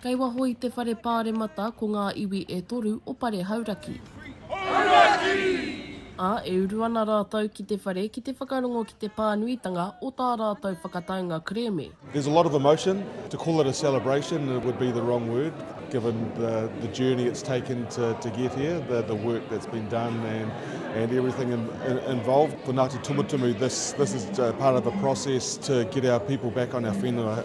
Kei waho i te Whare Pāremata ko ngā iwi e toru o Pare Hauraki. Hauraki! Ā, e uru ana rātou ki te whare ki te whakarongo ki te pānuitanga o tā rātou whakataunga kerēme. There's a lot of emotion. To call it a celebration would be the wrong word given the the journey it's taken to to get here, the the work that's been done and and everything in, in, involved. For Ngāti Tumutumu, this this is uh, part of a process to get our people back on our whenua.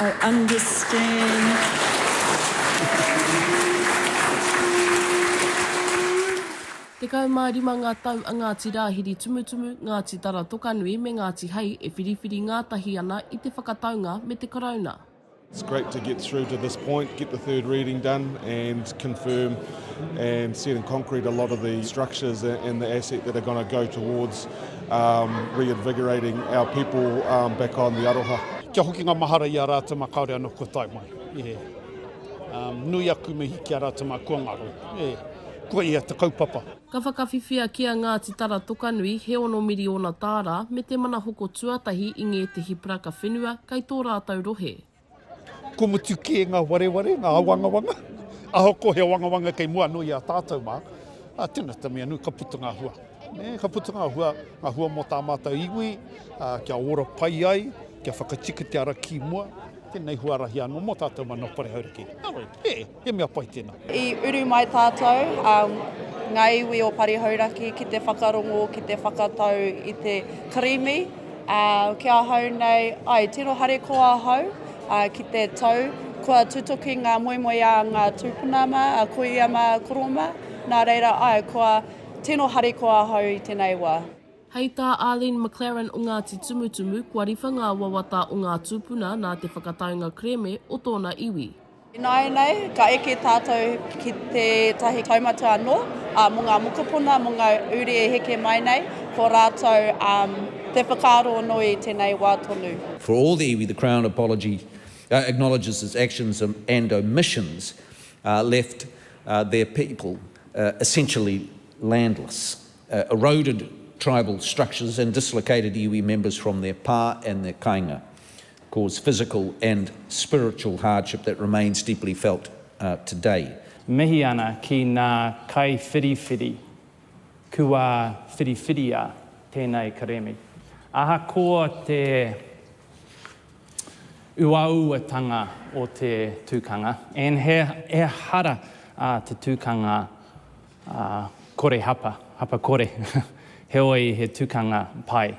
I understand. Tekau mā rima ngā tau a Ngāti Rāhiri Tumutumu, Ngāti Tara Tokanui me Ngāti Hei e whiriwhiri ngātahi ana i te whakataunga me te Karauna. It's great to get through to this point, get the third reading done and confirm and set in concrete a lot of the structures and the asset that are going to go towards um, reinvigorating our people um, back on the aroha. Kia hoki ngā mahara i a rātou mā kāore anō kua tae mai. Yeah. Um, nui aku mihi ki a rātou mā kua ngaro. Yeah. Kua ia te kaupapa. Ka whakawhiwhia ki a Ngāti Tara Tokanui he ono miriona tāra me te mana hoko tuatahi i ngētehi paraka whenua kei tō rātou rohe. Kua mutu kē ngā wareware, ngā awangawanga, ahakoa ko he awangawanga kei mua anō i a tātou mā, ā, tēnā te mea nui, ka puta ngā hua. Nē, ka puta ngā hua, ngā hua mō tā mātou iwi, ā, kia ora pai ai, kia whakatika te ara ki mua, tēnei huarahi anō mō tātou mana o Parehauraki. Nā wai, e! He mea pai tēnā. I uru mai tātou, ngā iwi o Pari Hauraki, ki te whakarongo, ki te whakatau i te karimi. Ki ahau nei, ai, tino harikoa ahau ki te tau kua tutuki ngā moemoe a ngā tūpuna mā, a Koia mā, a Koro mā. Nā reira, ai, kua tino harikoa ahau i tēnei wā. Hei tā Arlene McLaren o Ngāti Tumutumuku, kua riwha ngā wawata o ngā tūpuna nā te whakataunga kereme o tōna iwi. Ināianei, ka eke tātou ki tētahi kaumata anō mō ngā mokopuna, mō ngā uri e heke mai nei, ko rātou te whakaaro anō i tēnei wā tonu. For all the iwi, the Crown apologies, acknowledges its actions and omissions left their people essentially landless, eroded tribal structures and dislocated iwi members from their pā and their kainga. cause physical and spiritual hardship that remains deeply felt today. Mihi ana ki nā kaiwhiriwhiri kua whiriwhiria tēnei kerēme. Ahakoa te uauatanga o te tukanga, and he ehara a te tukanga kore hapa, hapa kore, heoi he tukanga pai.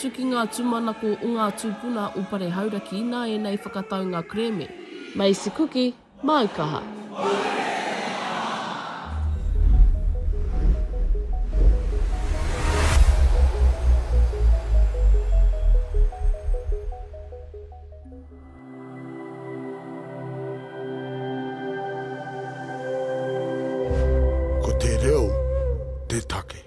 Tukinga tūmanako o ngā tūpuna o Pare Hauraki nā ēnei whakataunga kerēme. Macy Kuki, māu kaha. Ko te reo te take.